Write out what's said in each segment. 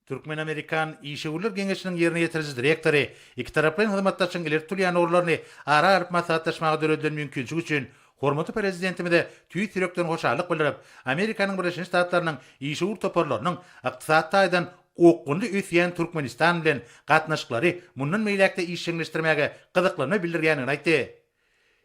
Türkmen-amerikan işewürler geňeşiniň ýerine ýetiriji direktory ikitaraplaýyn hyzmatdaşlygyň ileri tutulýan ugurlaryny ara alyp maslahatlaşmaga döredilen mümkinçilik üçin hormatly Prezidentimize tüýs ýürekden hoşallyk bildirip, Amerikanyň Birleşen Ştatlarynyň işewür toparlarynyň ykdysady taýdan okgunly ösýän Türkmenistan bilen gatnaşyklary mundan beýläk-de işjeňleşdirmäge gyzyklanma bildirýändigini aýtdy.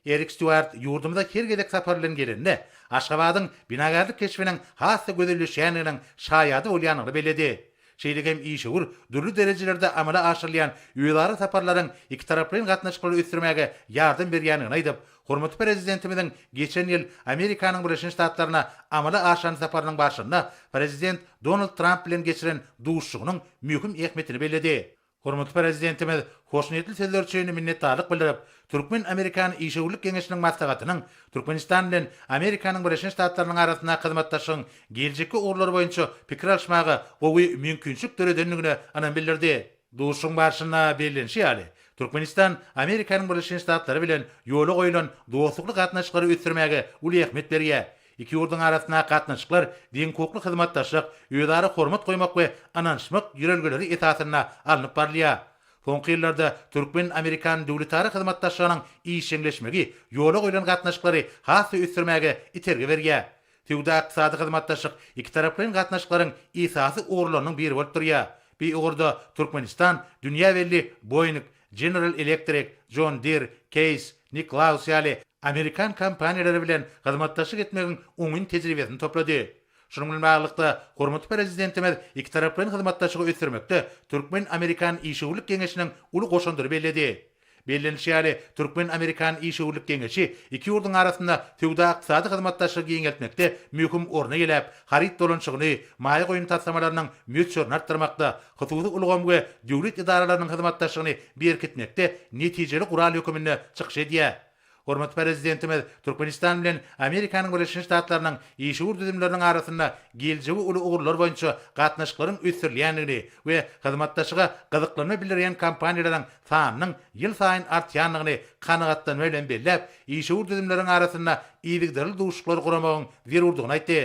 Erik Stýuart ýurdumyza her gezek sapar bilen gelende, Aşgabadyň binagärlik keşbiniň has-da gözelleşýändiginiň şaýady bolýandygyny belledi. Şeýle hem işewür dürli derejelerde amala aşyrylýan özara saparlaryň ikitaraplaýyn gatnaşyklary ösdürmäge ýardam berýändigini aýdyp, hormatly Prezidentimiziň geçen ýyl Amerikanyň Birleşen Ştatlaryna amala aşyran saparynyň barşynda Prezident Donald Tramp bilen geçiren duşuşygynyň möhüm ähmiýetini belledi. Hormatly Prezidentimiz hoşniýetli sözleri üçin minnetdarlyk bildirip, Türkmen-amerikan işewürlik geňeşiniň maslahatynyň Türkmenistan bilen Amerikanyň Birleşen Ştatlarynyň arasynda hyzmatdaşlygyň geljekki ugurlary boýunça pikir alyşmaga gowy mümkinçilik döredendigine ynam bildirdi. Duşuşygyň barşynda bellenişi ýaly, Türkmenistan Amerikanyň Birleşen Ştatlary bilen ýola goýlan dostlukly gatnaşyklary ösdürmäge uly ähmiýet berýär, Iki ýurduň arasyndaky gatnaşyklar deňhukukly hyzmatdaşlyk, özara hormat goýmak we ynanyşmak ýörelgeleri esasynda alnyp barylýar. Soňky ýyllarda türkmen-amerikan döwletara hyzmatdaşlygynyň işjeňleşmegi ýola goýlan gatnaşyklary has-da ösdürmäge itergi berýär. Söwda-ykdysady hyzmatdaşlyk ikitaraplaýyn gatnaşyklaryň esasy ugurlarynyň biri bolup durýar. Bu ugurda Türkmenistan dünýä belli Boeing General Electric, John Deere, Case, Nicklaus ýaly amerikan kompaniýalary bilen hyzmatdaşlyk etmegiň oňyn tejribesini toplady. Şunuň bilen baglylykda, hormatly Prezidentimiz ikitaraplaýyn hyzmatdaşlygy ösdürmekde türkmen-amerikan işewürlik geňeşiniň uly goşandyny belledi. Bellenilişi ýaly, türkmen-amerikan işewürlik geňeşi iki ýurduň arasynda söwda-ykdysady hyzmatdaşlygy giňeltmekde möhüm orny eýeläp, haryt dolanyşygyny, maýa goýum taslamalarynyň möçberini artdyrmakda, hususy ulgam we döwlet edaralarynyň hyzmatdaşlygyny berkitmekde netijeli gural höküminde çykyş edýär. Hormatly Prezidentimiz Türkmenistan bilen Amerikanyň Birleşen Ştatlarynyň işewür düzümleriniň arasynda geljegi uly ugurlar boýunça gatnaşyklaryň ösdürilýändigini we hyzmatdaşyga gyzyklanma bildirýän kompaniýalaryň sanynyň ýylsaýyn artýandygyny kanagatlanma bilen belläp, işewür düzümleriň arasynda yzygiderli duşuşyklary guramagyň zerurdygyny aýtdy.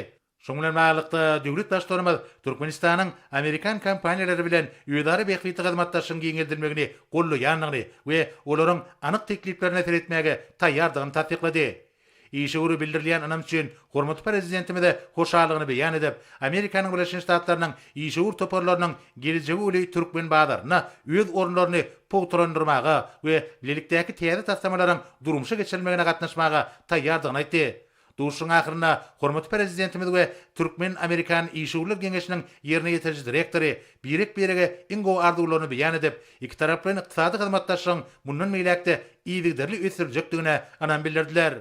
Şunuň bilen baglylykda, döwlet Baştutanymyz Türkmenistanyň amerikan kompaniýalary bilen özara bähbitli hyzmatdaşlygyň giňeldilmegini gollaýandygyny we olaryň anyk tekliplerine seretmäge taýýardygyny tassyklady. Işe görä bildirilýän ynam üçin hormatly Prezidentimize hoşallygyny beýan edip, Amerikanyň Birleşen Ştatlarynyň işewür toparlarynyň gelejegi uly türkmen bazarynda öz orunlaryny pugtalandyrmaga we bilelikdäki täze taslamalaryň durmuşa geçirilmegine gatnaşmaga taýýardygyny aýtdy. Duşuşygyň ahyrynda hormatly Prezidentimiz we Türkmen-amerikan işewürler geňeşiniň ýerine ýetiriji direktory birek-birege iň gowy arzuwlaryny beýan edip, ikitaraplaýyn ykdysady hyzmatdaşlygyň mundan beýläk-de yzygiderli ösdüriljekdigine ynam bildirdiler.